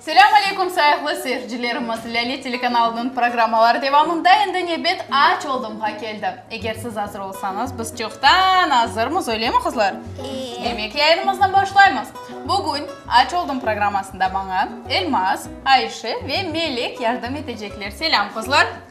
Selâm aleykum sayıqlı seyircilerimiz! Lâle telekanalınıñ programmaları devamında endi nevbet Aç oldım-ğa keldi. Eger siz azır olsañız, biz çoqtan azırmız, öylemi, qızlar? Eee! Demek, yayınımıznı başlaymız. Bugün Aç oldım programmasında maña Elmaz, Ayşe ve Melek yardım etecekler. Selâm, qızlar!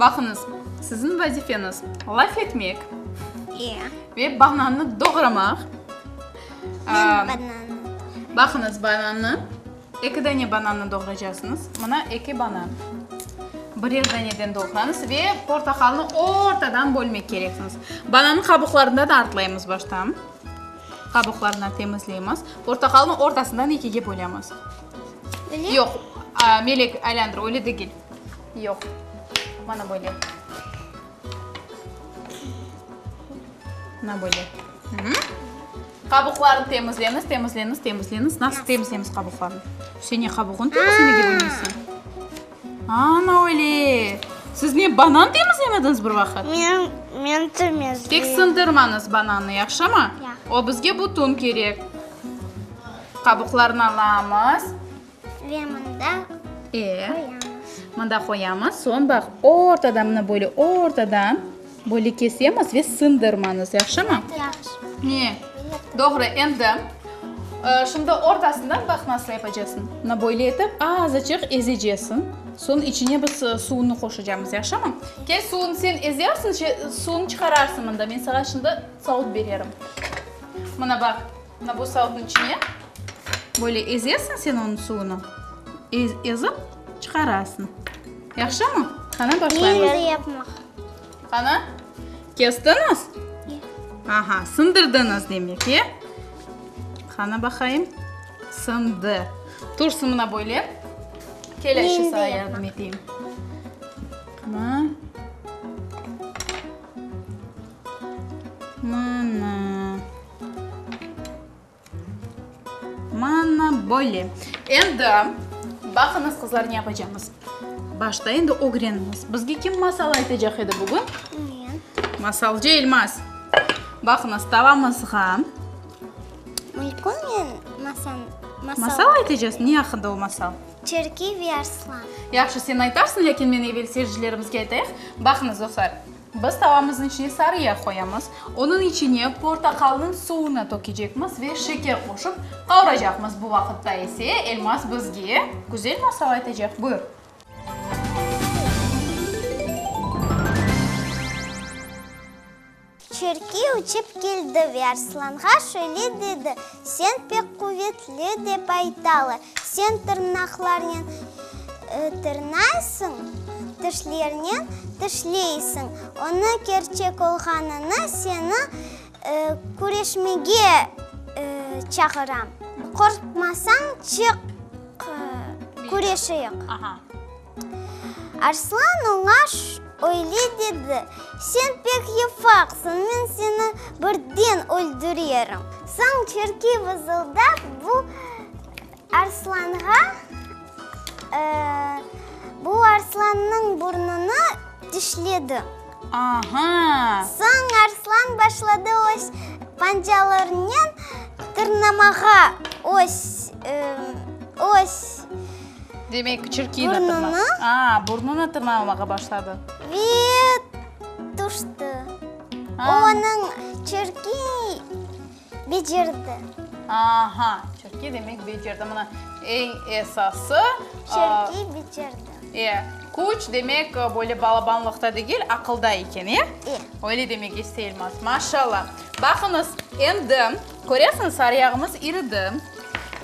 Baqıñız, siziñ vazifeñiz, laf etmek. Eee. Ve banannı doğramaq. Eee. Banannı. Baqıñız, banannı, eki dane banannı doğraycaqsıñız. Mına eki banan. Birer daneden doğrañız ve portaqalnı ortadan bölmek kereksiñiz. Banannı qabuqlarından artlaymız baştan. Qabuqlarından temizleymiz. Portaqalnı ortasından ekige bölemiz. Böyle? Yoq, Melek, aylandır, öyle degil. Yoq, mana böyle. Mana böyle. Qabuqlarını temizlemiz, temizlemiz, temizlemiz. Nasıl temizlemiz qabuqlarını? Sen ne qabuğını temizlemege bilmeysen? Ana öyle. Siz ne banan temizlemediniz bir vaqıt? Men, men temizleyim. Tek sındırmanız bananı, yaxşı mı? Ya. O bizge bütün kerek. Qabuqlarını alamız. Ve mında qoyamız. Mında qoyamız. Soñ baq, ortadan, mına böyle ortadan böyle kesemiz ve sındırmanız. Yahşımı? Yahşı. Ne? Doğru. Endi şimdi ortasından baq nasıl yapacaqsıñ. Mına böyle etip azıcıq ezeceksin. Soñ içine biz suvunı qoşacamız. Yahşımı? Kel, suvunı sen ezersiñ, suvunı çıqararsıñ mında. Men saña şimdi saut bererim. Mına baq. Mına bu salıqnıñ içine böyle ezesiñ sen onıñ suvunı, ezip çıqarasıñ. Yahşımı? Qana, başlaymız. Endi yapmaq. Qana, kestiñiz? Ya. Aha, sındırdıñız demek, e? Qana, baqayım. Sındı. Tursıñ mına böyle. Kel, Ayşe, Endi sağa yapmaq. yardım eteyim. Qana. Mına. Mana böyle. Endi baqıñız qızlar ne yapacağımız. Başta endi ögreniñiz. Bizge kim masal aytacaq edi bugün? Men. Masalcı Elmaz. Baqıñız tavamızğa. Mülküm men masal. Masal aytacağız. Ne aqqında o masal? Türkiy ve Arslan. Yahşı sen aytarsıñ, lâkin men evel seyircilerimizge aytayıq. Baqıñız dostlar. Biz tavamıznıñ içine sarı yağ qoyamız. Onıñ içine portaqalnıñ suvunı tökecekmiz ve şeker qoşıp qavuracaqmız. Bu vaqıtta ise Elmaz bizge güzel masal aytacaq. Buyur. Çürki uçıp keldi ve Arslanğa şöyle dedi. Sen pek quvetli, dep aytalı. Sen tırnaqlarnen tırnaysıñ, tişlernen tişleysiñ. Onı kerçek olğanını seni küreşmege çağıram. Qorqmasañ, çıq, küreşeyik. Arslan oña öyle dedi, Sen pek yefaqsıñ, men seni birden öldürerim. Soñ Çirkey vızıldap bu arslanğa, bu arslannıñ burnunı dişledi. Aha! Soñ arslan başladı öz pancalarınen tırnamağa öz, öz. Demek, çirkin tırna. Burnunı. A, burnunı tırnalamağa başladı. Ve tüştü. Onıñ çirkin Becerdi. Aha, Çirki demek becerdi. Mına eñ esası. Çirki becerdi. E, küç demek böyle balabanlıqta degil, aqılda eken, e? E. Öyle demek isteyilmez. Maşallah. Baqıñız, endi köresiñiz, sarıyağımız iridi.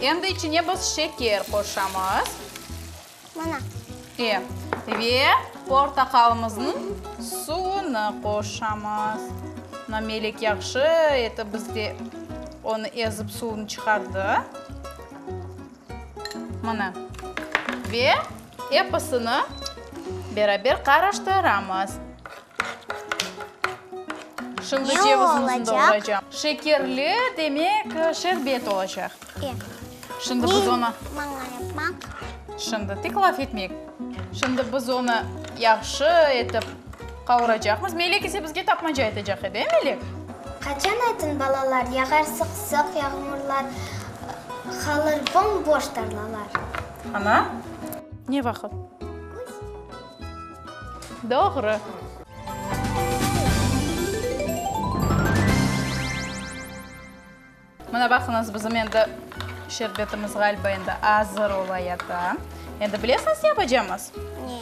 Endi içine biz şeker qoşamız. Mana. E, ve portaqalımıznıñ suvunı qoşamız. Mına Melek yahşı etip bizge onı ezip suvunı çıqardı. Mına. Ve episini beraber qarıştıramız. Şimdi cevizimizni doğraycam. Şekerli, demek, şerbet olacaq. E. Şimdi biz onı. Maña yapmaq. Şimdi tek laf etmek. Şimdi biz onı yahşı etip qavuracaqmız. Melek ise bizge tapmaca aytacaq edi, e, Melek? Qaçan aytın, balalar, yağar sıq-sıq yağmurlar, qalır bom-boş tarlalar. Ana, ne vaqıt? Doğru. Mına baqıñız, bizim endi şerbetimiz ğaliba endi azır olayata. Endi bilesiñiz, ne yapacamız? Ne?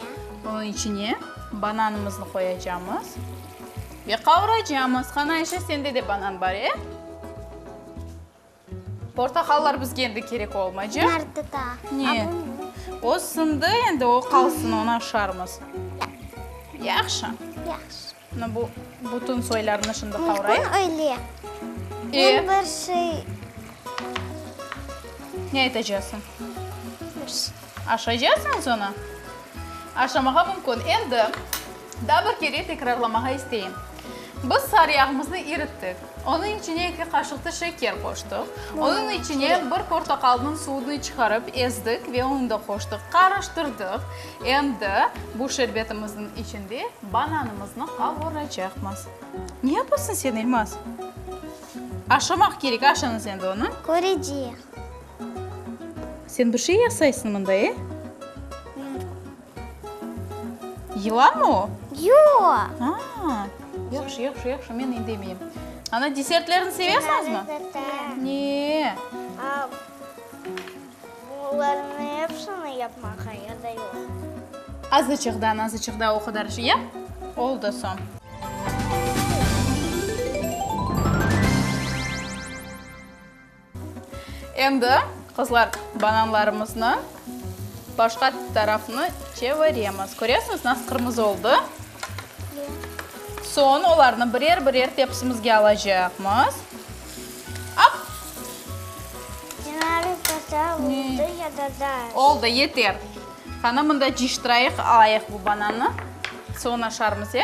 Bunıñ içine bananımıznı qoyacamız ve qavuracamız. Qani, Ayşe, sende de banan bar, e? Portaqallar bizge endi kerek olmaycaq. Bunlar tuta. Ne? O sındı endi, o qalsın, onı aşarmız. Yahşı. Yahşı. Mına bu bütün soylarnı şimdi qavrayıq. Mümkün öyle. Men bir şey. Ne aytacaqsıñ? Bir şey. Aşaycaqsıñız onı? Aşamağa mümkün. Endi daa bir kere tekrarlamağa isteyim. Biz sarı yağımıznı irittik. Onıñ içine eki qaşıqtı şeker qoştıq. Onıñ içine bir portaqalnıñ suvunı çıqarıp ezdik ve onı da qoştıq. Qarıştırdıq. Endi bu şerbetimizniñ içinde bananımıznı qavuracaqmız. Ne yapasıñ sen, İlmaz? Aşamaq kerek, aşañız endi onı. Köreceq. Sen bir şey yasaysıñ mında, e? Yılanmı o? Yoq. Ha, yahşı, yahşı, yahşı, men indemeyim. Ana, desertlerni sevesiñizmi? Ne? Bularnı epsini yapmağa ya da yoq? Azıcıq da, nazıcıq da o qadar şey yap, oldı soñ. Endi, qızlar, bananlarımıznı başqa tarafını çeviremiz. Köresiñiz, nasıl qırmızı oldı? Soñ olarnı birer-birer tepsimizge alacaqmız. Ap! Yarım kasa oldı ya da daz. Oldı, yeter. Qana, mında ciştirayıq, alayıq bu banannı. Suvun aşarmız, e?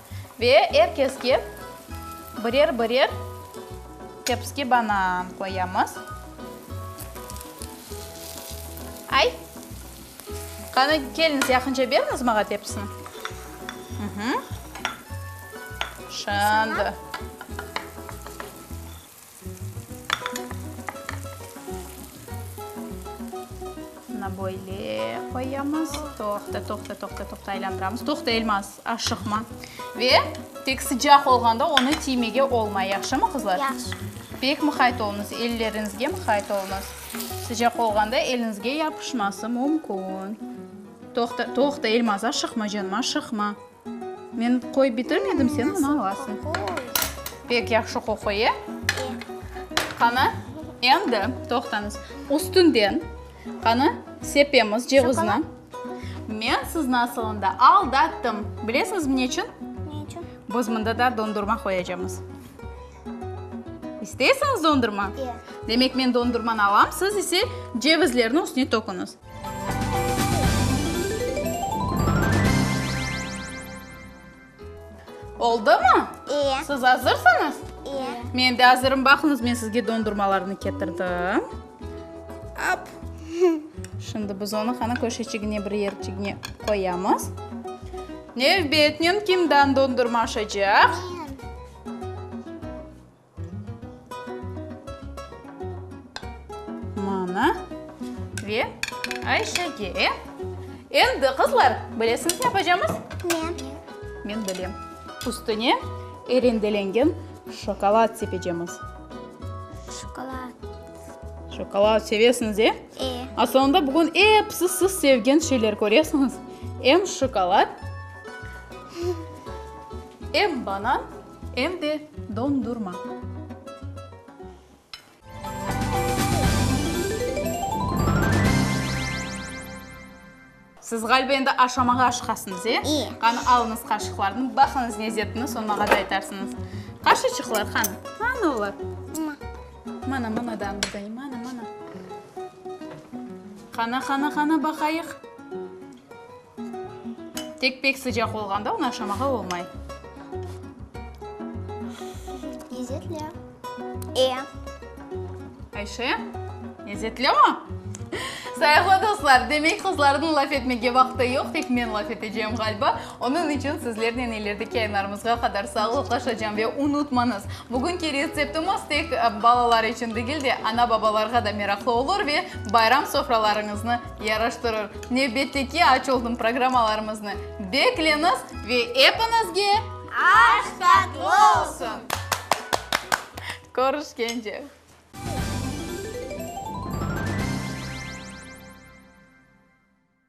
Ve er keske birer-birer tepski banan qoyamız. Ay! Qani, keliniz, yaqınca beriñiz maña tepsini. Şimdi. Bunı böyle qoyamız. Toqta, toqta, toqta, toqta, aylandıramız. Toqta, Elmaz, aşıqma. Ve tek sıcaq olğanda onı tiymege olmay, yahşımı, qızlar? Yahşı. Pek mıqayt olunız, elleriñizge mıqayt olunız. Sıcaq olğanda eliñizge yapışması mümkün. Toqta, toqta, Elmaz, aşıqma, canım, aşıqma. Men qoy bitirmedim, sen bunı alasıñ. Pek yahşı qoquy, e? Qana, endi toqtañız. Üstünden, qana, sepemiz cevizni. Men sizni asılında aldattım. Bilesiñizmi neçün? Neçün? Biz mında da dondurma qoyacamız. İsteysiñiz dondurma? E. Demek, men dondurmanı alam, siz ise cevizlerni üstüne töküñiz. Oldumı? İyi. Siz azırsıñız? İyi. Men de azırım. Baqıñız, men sizge dondurmalarnı ketirdim. Ap. Şimdi biz onı qana köşeçigine, bir yerçigine qoyamız. Nevbetnen kimden dondurma aşacaq? Mana ve Ayşege. Endi qızlar, bilesiñiz ne yapacamız? Ne? Men bilem. Üstüne erendelengen şokolad sepecemiz. Şokolad. Şokolad sevesiñiz, e? E. Aslında bugün episi siz sevgen şeyler köresiñiz. Em şokolad, em banan, Em de dondurma. Siz ğaliba endi aşamağa aşqasıñız, e? İ. Qanı, alıñız qaşıqlarnı, baqıñız ne zetini, soñ maña da aytarsıñız. Qaşıçıqlar qanı? Qanı olar? Mına. Mana, mana da anda da, mana, mana. Qana, qana, qana, baqayıq. Tek pek sıcaq olğanda onı aşamağa olmay. Lezetli. E. Ayşe, lezetli mi? Sayıqlı dostlar, demek qızlarnıñ laf etmege vaqtı yoq, tek men laf etecem ğaliba. Onıñ içün sizlernen ilerdeki yayınlarımızğa qadar sağlıqlaşacam. Ve unutmañız, bugünki retseptimiz tek balalar içün degil de, ana-babalarğa da meraqlı olur ve bayram sofralarıñıznı Yaraştırır. Nevbette ki, aç oldım programmalarımıznı bekleniz ve epiñizge aş tatlı olsun! Körüşkence!